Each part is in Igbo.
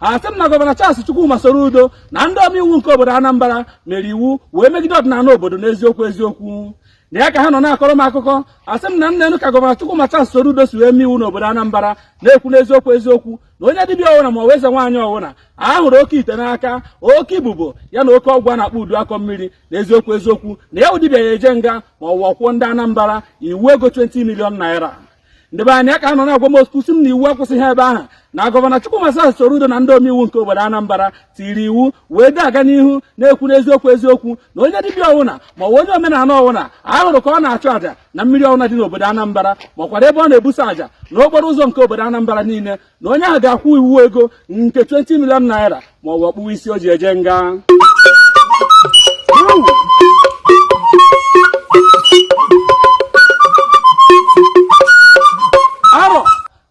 a sị m na gọvanọ Charles Chukwuma Soludo na ndị omeiwu nke obodo Anambra mere iwu wee megide ọdịnala obodo n'eziokwu eziokwu na ya ka ha nọ na-akọrọ m akụkọ asị m na nne enu ka gọvanọ Chukwuma Charles Soludo si wee mee iwu n'obodo Anambra na-ekwu n'eziokwu eziokwu na onye dibịa ọwụna ma ọ wụ eze nwaanyị ọwụna a hụrụ oke ite n'aka oke ibubo ya na oke ọgwụ a na-akpọ udu akọ mmiri na eziokwu eziokwu na ya wụ dibịa ya eje nga ma ọ wụ ọ kwụọ ndị Anambra iwu ego 20 million naira ndị be anyị a ka nọ na-agwa m okwu si m na iwu akwụsịghị ebe ahụ na gọvanọ Chukwuma Charles Soludo na ndị omeiwu nke obodo Anambra tiri iwu wee na-aga n'ihu na-ekwu n'eziokwu eziokwu na onye dibịa ọwụna ma ọ wụ onye omenala ọwụna a hụrụ ka ọ na-achụ àjà na mmiri ọwụna dị n'obodo Anambra makwara ebe ọ na-ebusa àjà n'okporo ụzọ nke obodo Anambra niile na onye ahụ ga-akwụ iwu ego nke 20 million naira ma ọ bụ ọ kpụwa isi o ji eje nga arọ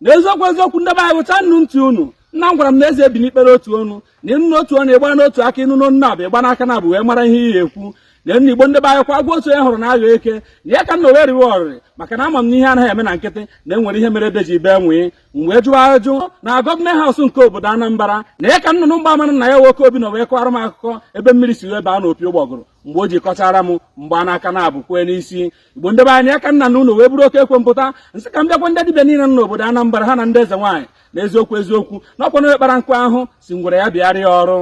na eziokwu eziokwu ndị be anyị ghọchanụ ntị unu nna m gwara m na eze ebi ikpe n'otu ọnụ na ịnụ n'otu ọnụ ịgba n'otu aka ịnụ n'ọnụ naabọ ịgba n'aka naabọ wee mara ihe ị ya-ekwu na nna Igbo ndị be anyị kwa agwa otu e hụrụ na agha eke na ya ka m nọ wee riwe oriri maka na ama m na ihe anaghị eme na nkịtị na e nwere ihe mere ede ji bee nwii m wee jụọ ajụ na government house nke obodo Anambra na ya ka nnụnụ mgbaama na ya nwoke obi nọ wee kọwara m akụkọ ebe mmiri si wee baa n'opi ụgbọgụrụ mgbe o ji kọchara m m gbaa n'aka naabọ kwee n'isi Igbo ndị be anyị ya ka m nọ n'ụlọ wee buru oke ekwe m pụta m sị ka m bịa gwa ndị dibịa niile nọ n'obodo Anambra ha na ndị eze nwaanyị na eziokwu eziokwu na ọ kwa onye kpara nkụ ahụhụ sị ngwere ya bịara ya ọrụ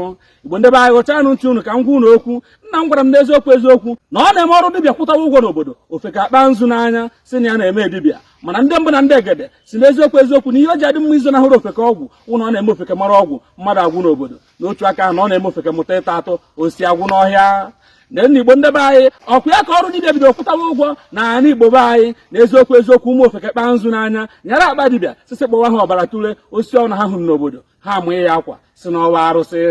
Igbo ndị be anyị ghọchanụ ntị unu ka m gwa unu okwu nna m gwara m n'eziokwu eziokwu na ọ na-eme ọrụ dibịa kwụtawa ụgwọ n'obodo ofeke akpaa nzu n'anya si na ya na-eme dibịa mana ndị mbụ na ndị egede si n'eziokwu eziokwu na ihe o ji adị mma izonahụrụ ofeke ọgwụ wụ na ọ na-eme ofeke mara ọgwụ mmadụ agwụ n'obodo n'otu aka ahụ na ọ na-eme ofeke mụta ịta atụ osisi agwụ n'ọhịa na nna Igbo ndị be anyị ọ wụ ya ka ọrụ dibịa bido kwụtawa ụgwọ na ala Igbo be anyị na eziokwu eziokwu ụmụ ofeke kpaa nzu n'anya nyara akpa dibịa sisi kpọwa ha ọbara tule osisi ọwụna ha hụrụ n'obodo ha amaa ya akwa si na ọ wụ arụsị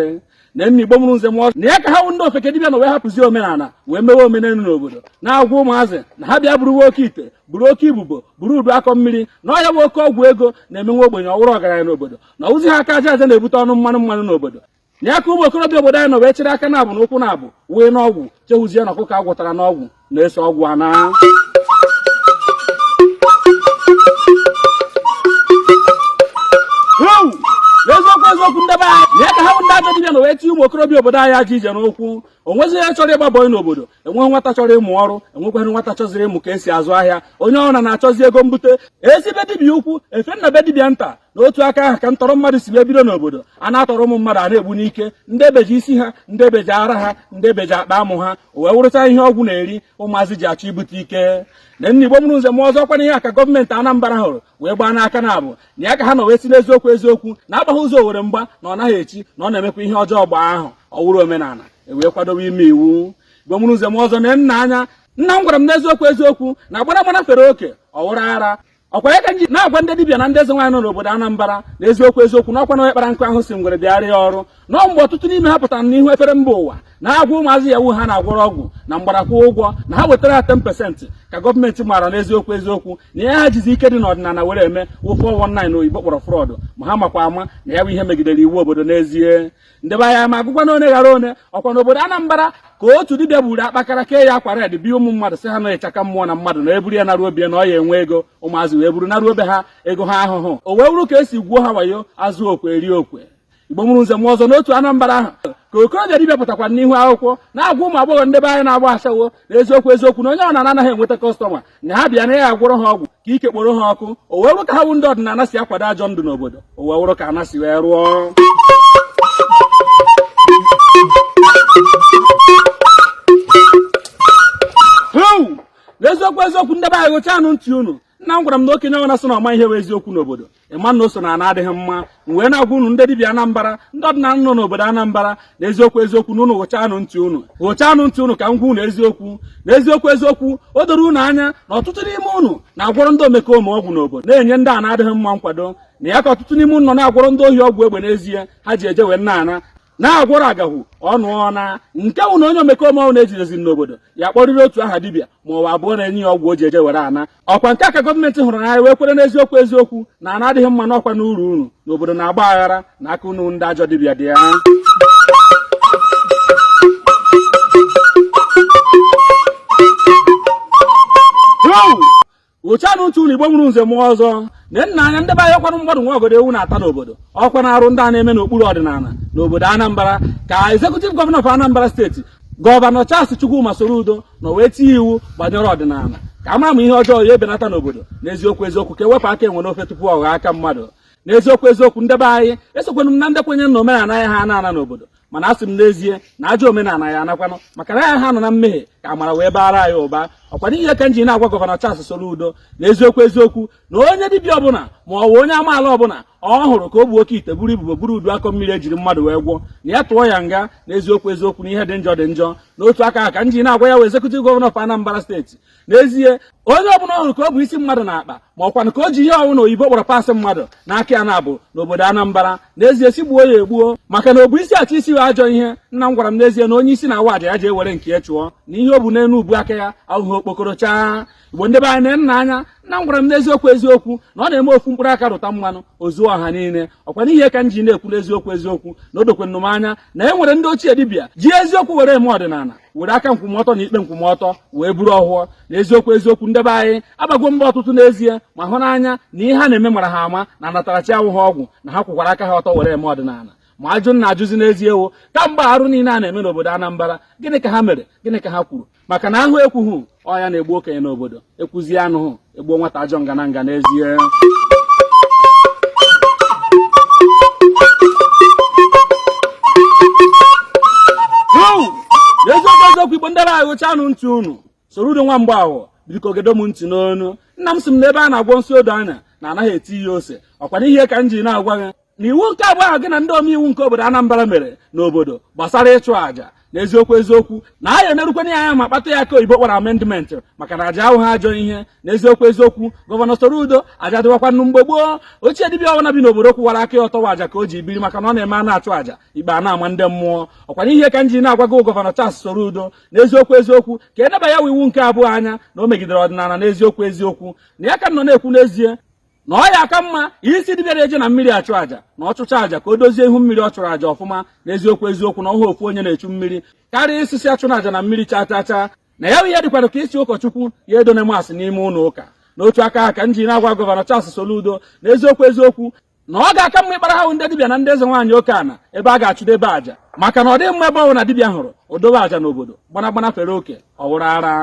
na nna Igbo mụrụ nze mụọ na ya ka ha wụ ndị ofeke dibịa nọ wee hapụzi omenala wee mewe omenelu n'obodo na-agwa ụmụazị na ha bịa buru oke ite buru oke ibubo buru udu akọ mmiri na ọ ya bụ oke ọgwụ ego na-eme nwa ogbenye ọ wụrụ ọgaranya n'obodo na ọ wụzighị aka aja aja na-ebute ọnụ mmanụ mmanụ n'obodo na ya ka ụmụ okorobịa obodo anyị nọ wee chịrị aka naabọ na ụkwụ naabọ wee n'ọgwụ chehụzie na ọkụkọ a gwọtara n'ọgwụ na-eso ọgwụ ana eziokwu eziokwu ndị be anyị na ya ka ha bụ ndị ajọ dibịa nọ wee tinye ụmụ okorobịa obodo anyị ajọ ije n'ụkwụ o nwezi onye chọrọ ịgba bọị n'obodo enweghị nwata chọrọ ịmụ ọrụ enwekwaghị nwata chọziri ịmụ ka e si azụ ahịa onye ọwụna na-achọzi ego mbute e si be dibịa ukwu e fee na be dibịa nta n'otu aka ahụ ka ntọrọ mmadụ si wee bido n'obodo a na-atọrọ ụmụ mmadụ a na-egbu n'ike ndị ebeji isi ha ndị ebeji ara ha ndị ebeji akpa amụ ha o wee wụrụcha ihe ọgwụ na-eri ụmụazị ji achọ ibute ike na nna igbo mụrụ nze mụọ ọzọ kwana ihe a ka gọọmenti Anambra hụrụ wee gbaa n'aka na abụ na ya ka ha nọ wee si n'eziokwu eziokwu na agbaghị ụzọ owere mgba na ọ naghị echi na ọ na-emekwa ihe ọjọọ gbaa ahọ ọ wụrụ omenala e wee kwadobe ime iwu igbo mụrụ nze mụọ ọzọ na nna anya nna m gwara m n'eziokwu eziokwu na agbara agbara fere oke ọ wụrụ ara ọkwa ya ka m ji na-agwa ndị dibịa na ndị eze nwaanyị nọ n'obodo Anambra na eziokwu eziokwu na ọkwa na onye kpara nkụ ahụhụ sị ngwere bịara ya ọrụ na mgbe ọtụtụ n'ime ha pụtara n'ihu efere mba ụwa na-agwa ụmụazị Yahoo ha na-agwọrọ ọgwụ na mgbada kwụọ ụgwọ na ha wetara ha 10% ka gọọmenti maara n'eziokwu eziokwu na ihe ha jizi ike dị n'ọdịnala were eme wụ 419 na oyibo kpọrọ fraud ma ha makwa ama na ya bụ ihe megidere iwu obodo n'ezie ndị be anyị m agụkwanụ one ghara one ọkwa n'obodo Anambra ka otu dibịa buru akpakara kee ya akwa red bi ụmụ mmadụ sị ha na ịchaka mmụọ na mmadụ na eburu ya naruo obie na ọ ya enwe ego ụmụazị wee buru naruo obi ha ego ha ahụhụ o wee wụrụ ka e si gwuo ha wayo azụ okwe eri okwe igbo mụrụ nze mụọ ọzọ n'otu Anambra ahụ ka okorobịa dibịa pụtakwa n'ihu akwụkwọ na-agwa ụmụ agbọghọ ndị be anyị na-agba ashawo na eziokwu eziokwu na onye ọwụna anaghị enweta customer na ha bịa na ya agwọrọ ha ọgwụ ka ike kporo ha ọkụ o wee wụrụ ka ha wụ ndị ọdịnala si akwado ajọ ndụ n'obodo o wee wụrụ ka ana si wee rụọ n'eziokwu eziokwu ndị be anyị hụchaanụ ntị unu nna m gwara m na okenye ọwụna sị na ọ ma ihe bụ eziokwu n'obodo ịma na o so na ana adịghị mma m wee na-agwa unu ndị dibịa Anambra ndị ọdịnala nọ n'obodo Anambra na eziokwu eziokwu na unu hụchaanụ ntị unu hụchaanụ ntị unu ka m gwa unu eziokwu na eziokwu eziokwu o doro unu anya na ọtụtụ n'ime unu na-agwọrọ ndị omekome ọgwụ n'obodo na-enye ndị ana adịghị mma nkwado na ya ka ọtụtụ n'ime unu nọ na-agwọrọ ndị ohi ọgwụ egbe n'ezie ha ji eje wee na-ana na-agwọrọ agahụ ọnụ ọna nke wụ na onye omekome ọwụna ejideziri n'obodo ya-akpọrịrị otu aha dibịa ma ọ bụ abụọ na-enye ya ọgwụ o ji eje were ana ọkwa nke a ka gọọmenti hụrụ n'anya wee kwere n'eziokwu eziokwu na ana adịghị mma na ọkwanụ uru unu na obodo na-agba aghara na aka unu ndị ajọ dibịa dị ya hụchaanụ ntị unu igbo mụrụ nze mụọ ọzọ na nna anya ndị be anyị ọkwanụ mmadụ nwe ọgọdọ ewu na-ata n'obodo ọkwanụ arụ ndị a na-eme n'okpuru ọdịnala n'obodo Anambra ka executive governor of Anambra State Governor Charles Chukwuma Soludo na wee tinye iwu gbanyere ọdịnala ka a mara ma ihe ọjọọ ya ebenata n'obodo n'eziokwu eziokwu ka ewepụ aka enwe n'ofe tupu ọ ghọọ aka mmadụ n'eziokwu eziokwu ndị be anyị esokwenụ m na ndị kwenye na omenala ya ha ana ana n'obodo mana asị m n'ezie na ajọ omenala ya anakwanụ maka na ya ha nọ na mmehie ka amara wee baara anyị ụba ọkwa n'ihi ya ka m ji na-agwa Governor Charles Soludo na eziokwu eziokwu na onye dibịa ọbụla ma ọ bụ onye amaala ọbụla ọ hụrụ ka o bu oke ite buru ibubo buru udu akọ mmiri ejiri mmadụ wee gwọọ na ya tụọ ya nga na eziokwu eziokwu na ihe dị njọ dị njọ n'otu aka ka m ji na-agwa ya wụ executive governor of Anambra State n'ezie onye ọbụla ọ hụrụ ka o bu isi mmadụ n'akpa ma ọkwa na ka o ji ihe ọ wụ na oyibo kpọrọ parts mmadụ n'aka ya na-abụ n'obodo Anambra n'ezie sị gbuo ya egbuo maka na o bu isi achọ isi ya ajọ ihe nna m gwara m n'ezie na onye isi na-awa aja ya ji ewere nke ya chụọ na ihe o bu n'elu ubu aka ya awụhụ okpokoro chaa igbo ndị be anyị na nna anya nna m gwara m n'eziokwu eziokwu na ọ na-eme ofu mkpụrụ aka rụta mmanụ o zuo ọha niile ọkwa n'ihe ka m ji na-ekwu n'eziokwu eziokwu na o dokwanụ m anya na e nwere ndị ochie dibịa ji eziokwu were eme ọdịnala were aka nkwụmọtọ na ikpe nkwụmọtọ wee buru ọhọ n'eziokwu eziokwu ndị be anyị agbago mbọ ọtụtụ n'ezie ma hụ n'anya na ihe ha na-eme mara ha ama na anatara chi awụhụ ọgwụ na ha kwụkwara aka ha ọtọ were eme ọdịnala ma ajụ m na-ajụzi n'ezie wụ kamgbe arụ niile a na-eme n'obodo Anambra gịnị ka ha mere gịnị ka ha kwuru maka na a hụ ekwughị ọ ya na-egbu okenye n'obodo ekwuzie anụhụ egbuo nwata ajọ nga na nga n'ezie eziokwu eziokwu igbo ndị be anyị rụchanụ ntị unu Soludo nwa Mgbahọ biko gedo m ntị n'ọnụ nna m sị m na ebe a na-agwọ nsị odo anya na anaghị eti ya ose ọkwa n'ihe ka m ji na-agwa gị na iwu nke abụọ ahụ gị na ndị omeiwu nke obodo Anambra mere n'obodo gbasara ịchụ àjà na eziokwu eziokwu na anyị enerukwana ya anya ma kpatụ ya aka oyibo kpọrọ amendment maka na aja awụhụ ajọ ihe na eziokwu eziokwu gọvanọ Soludo aja dịwakwanụ mgbe gboo ochie dibịa ọbụla bi n'obodo kwụwara aka ya ọtọ wụ aja ka o ji biri maka na ọ na-eme a na-achụ aja ikpe a na-ama ndị mmụọ ọkwa n'ihe ka m ji na-agwa gọvanọ Charles Soludo na eziokwu eziokwu ka e neba ya iwu nke abụọ anya na o megidere ọdịnala na eziokwu eziokwu na ya ka nọ na-ekwu n'ezie na ọ ya aka mma ị sị dibịa na-eje na mmiri achụ àjà na ọ chụchaa àjà ka o dozie ihu mmiri ọ chụrụ àjà ọfụma na eziokwu eziokwu na ọ wụhụ ofu onye na-echu mmiri karịa ị sị sị achụna àjà na mmiri chaa chaa chaa na ya ihe dịkwara ka ị sị ụkọchukwu ya edona mass n'ime ụlọ ụka n'otu aka ka m ji na-agwa gọvanọ Charles Soludo na eziokwu eziokwu na ọ ga-aka mma ịkpara ha ndị dibịa na ndị eze nwaanyị oke ana ebe a ga-achụdebe àjà maka na ọ dịghị mma ebe ọbụna dibịa hụrụ o dobe àjà n'obodo gbanagbana fere oke ọ wụrụ ara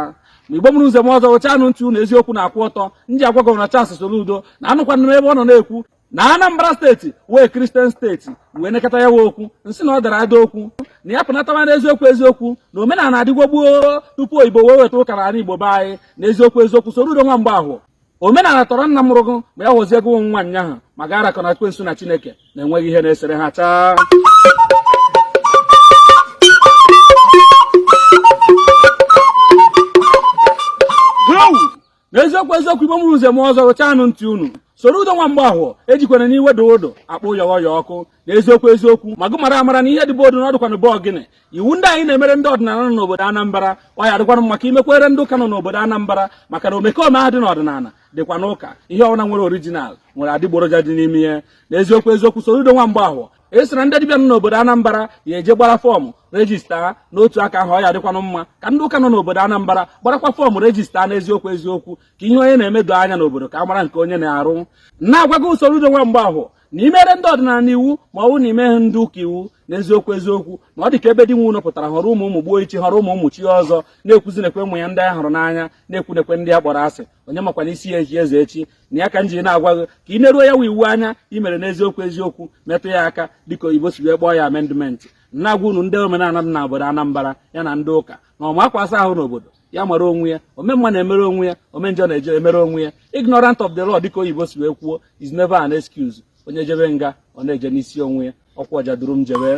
ma igbo mụrụ nze mụọ ọzọ rụchanụ ntị unu eziokwu na-akwụ ọtọ m ji agwa gọvanọ Charles Soludo na anụkwana m ebe ọ nọ na-ekwu na Anambra steeti wụ Kristian steeti wee nekọta ya wụ okwu m sị na ọ dara ada okwu na ya pụnatawa n'eziokwu eziokwu na omenala adịgwo gboo tupu oyibo wee weta ụka n'ala Igbo be anyị na eziokwu eziokwu Soludo nwa Mgbahọ omenala tọrọ nna mụrụ gụ ma ya họzie gị wụ nwa nyaahụ ma ga arakọ na ekwensu na chineke na enweghị ihe na-esere ha chaa n'eziokwu eziokwu igbo mụrụ nze mụọ ọzọ rụchanụ ntị unu Soludo nwa Mgbahọ ejikwana n'iwe odudu akpọ yọghọ ya ọkụ n'eziokwu eziokwu ma gụ mara amara na ihe dị be odu na ọ dịkwanụ be ọgịnị iwu ndị anyị na-emere ndị ọdịnala nọ n'obodo Anambra ọ ya-adịkwanụ mma ka i mekwere ndị ụka nọ n'obodo Anambra maka na omekome ahụ dị n'ọdịnala dịkwa n'ụka ihe ọbụla nwere orijinal nwere adịgboroja dị n'ime ya n'eziokwu eziokwu Soludo nwa Mgbafọ e sị na ndị dibịa nọ n'obodo Anambra ya-eje gbara fọọmụ rejista n'otu aka ahụ ọ ya-adịkwanụ mma ka ndị ụka nọ n'obodo Anambra gbarakwa fọọmụ rejista n'eziokwu eziokwu ka ihe onye na-eme doo anya n'obodo ka a mara nke onye na-arụ na-agwa gị Soludo nwa Mgbafọ na i mere ndị ọdịnala iwu ma ọ bụ na i meghị ndị ụka iwu n'eziokwu eziokwu na ọ dị ka ebe di nwe ụnọ pụtara họrọ ụmụ ụmụ gbuo ichi họrọ ụmụ ụmụ chie ọzọ na-ekwuzi nekwe ụmụ ya ndị a hụrụ n'anya na-ekwu nekwe ndị a kpọrọ asị onye makwanụ isi ya-echi eze echi na ya ka m ji na-agwa gị ka ị neruo ya wa iwu anya i mere n'eziokwu eziokwu metụ ya aka dịka oyibo si wee kpọọ ya amendment na-agwa unu ndị omenala dị n'obodo Anambra ya na ndị ụka na ọma akwa asa ahụ n'obodo ya mara onwe ya omemma na-emere onwe ya omenjọ na-eje emere onwe ya ignorant of the law dịka oyibo si wee kwuo is never an excuse onye jebe nga ọ na-eje n'isi onwe ya ọkwa ọja duru m jebe